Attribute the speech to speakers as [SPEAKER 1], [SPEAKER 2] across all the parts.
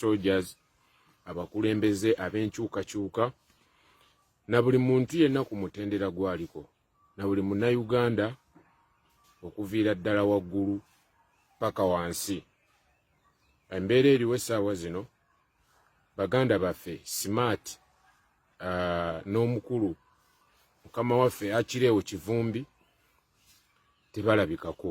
[SPEAKER 1] soldiers abakulembeze ab'enkyukakyuka na buli muntu yenna ku mutendera gwaliko na buli munnayuganda okuviira ddala waggulu paka wansi embeera eriwo essaawa zino baganda baffe smart uh, n'omukulu mukama waffe akireewo kivumbi tebalabikako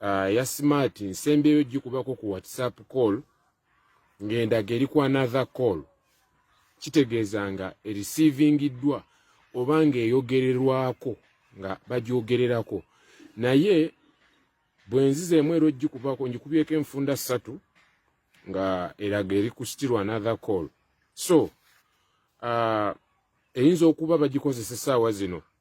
[SPEAKER 1] uh, ya smart nsembyeyo gikubako ku whatsapp call ng'endaga eri ku another call kitegeeza nga erisiivingiddwa oba ng'eyogererwako nga bagyogererako naye bwenziza emu era ogikubako ngikubyeko enfunda ssatu nga eraga eri ku still another call so uh, eyinza okuba bagikozesa essaawa zino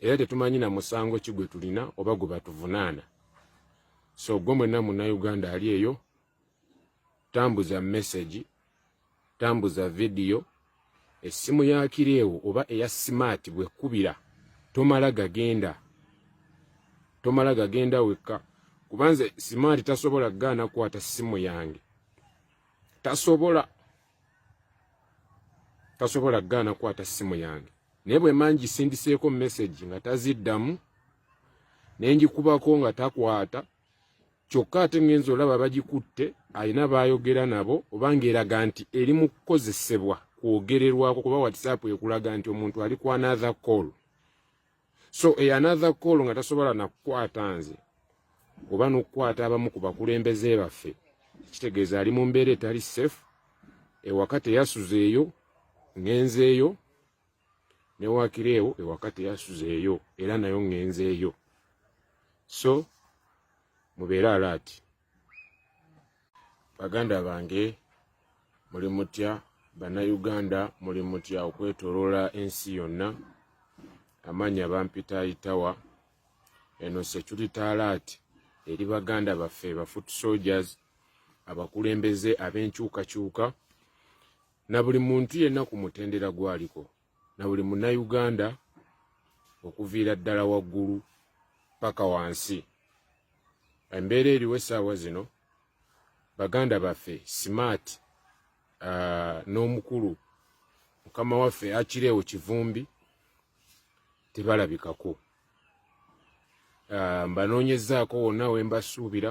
[SPEAKER 1] era tetumanyi na musango ki gwe tulina oba gwe batuvunaana so gwe mwenna munnayuganda ali eyo tambuza message tambuza vidiyo essimu ya kireewo oba eya simaati bwekubira tomala gagenda tomala gagenda wekka kubanze simaati tasobola gaana kukwata ssimu yange tasobola tasobola gaana kwata simu yange naye bwe mangi sindiseeko message nga taziddamu ne ngikubako nga takwata kyokka ate ngenza olaba bagikutte alina baayogera nabo oba ng'eraga nti eri mu kukozesebwa kwogererwako kuba whatsapp ekulaga nti omuntu ali ku another call so a another call nga tasobola nakukwata nze oba nokukwata abamu ku bakulembeze baffe kitegeeza ali mu mbeera etali safe ewaka teyasuzeeyo ngenzeeyo newakireewo ewaka teyasuzeeyo era nayo ngenzeeyo so mubeere alaati baganda bange muli mutya bannayuganda muli mutya okwetoloola ensi yonna amaanya bampita itawa eno security talat eri baganda baffe ba foot soldiers abakulembeze ab'enkyukakyuka na buli muntu yenna ku mutendera gwaliko na buli munnayuganda okuviira ddala waggulu paka wansi embeera eriwo essaawa zino baganda baffe smart uh, n'omukulu mukama waffe akireewo kivumbi tebalabikako uh, mbanoonyezaako wonna wembasuubira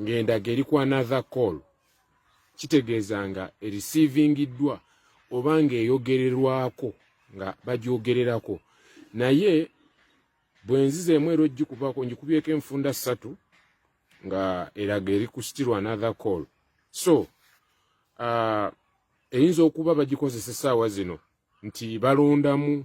[SPEAKER 1] ng'endaga eri ku another call kitegeeza nga erisiivingiddwa oba ng'eyogererwako nga bagyogererako naye bwe nziza emu era ogikubaako ngikubyeko enfunda ssatu nga eraga eri ku still another call so uh, eyinza okuba bagikozesa essaawa zino nti balondamu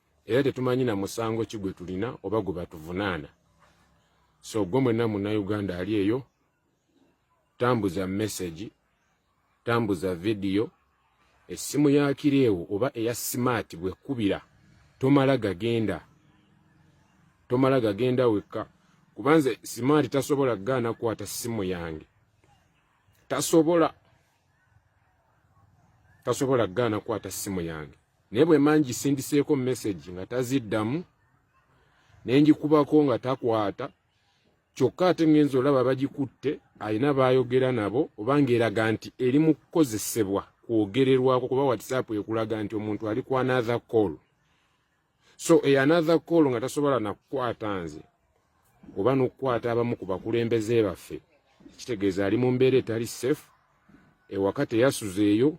[SPEAKER 1] era tetumanyi na musango ki gwe tulina oba gwe batuvunaana so gwe mwenna munnauganda ali eyo tambuza mesegi tambuza vidiyo essimu ya kireewo oba eya simaati bwekubira tomala gagenda tomala gagenda wekka kubanze simaati tasobola gaana kukwata ssimu yange tasobola tasobola gaana kukwata ssimu yange naye bwe mba ngisindiseeko message nga taziddamu ne ngikubako nga takwata kyokka ate ngenza olaba bagikutte alina baayogera nabo oba ng'eraga nti eri mu kukozesebwa kwogererwako kuba whatsapp ekulaga nti omuntu ali ku another call so e another call nga tasobola nakukwata nze oba n'okukwata abamu ku bakulembeze baffe kitegeeza ali mu mbeera etali safe ewaka teyasuzeeyo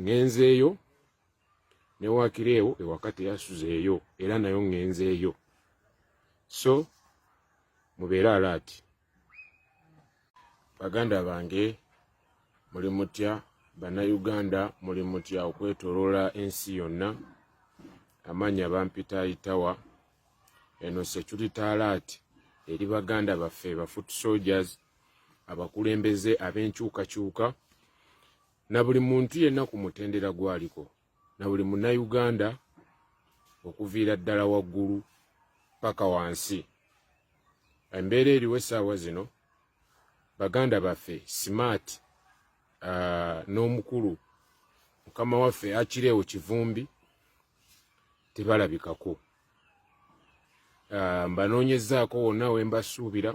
[SPEAKER 1] ngenzeeyo ne wakiri ewo ewaka teyasuzeeyo era nayo ngenzeeyo so mubeere alaati baganda bange muli mutya bannayuganda muli mutya okwetoloola ensi yonna amaanya bampita itawa eno security alert eri baganda baffe ba foot soldiers abakulembeze ab'enkyukakyuka na buli muntu yenna ku mutendera gwaliko na buli munnayuganda okuviira ddala waggulu paka wansi embeera eriwo essaawa zino baganda baffe smart uh, n'omukulu mukama waffe akireewo kivumbi tebalabikako uh, mbanoonyezaako wonna wembasuubira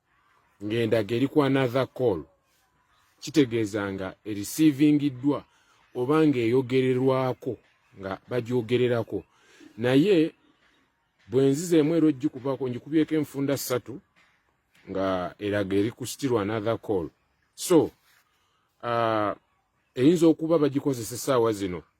[SPEAKER 1] ng'endaga eri ku another call kitegeeza nga erisiivingiddwa oba ng'eyogererwako nga bagyogererako naye bwe nziza emu era ogikubaako ngikubyeko enfunda ssatu nga eraga eri ku still another call so uh, eyinza okuba bagikozesa essaawa zino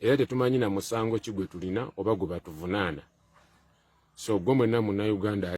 [SPEAKER 1] era tetumanyi na musango ki gwe tulina oba gwe batuvunaana so gwe mwenna munnauganda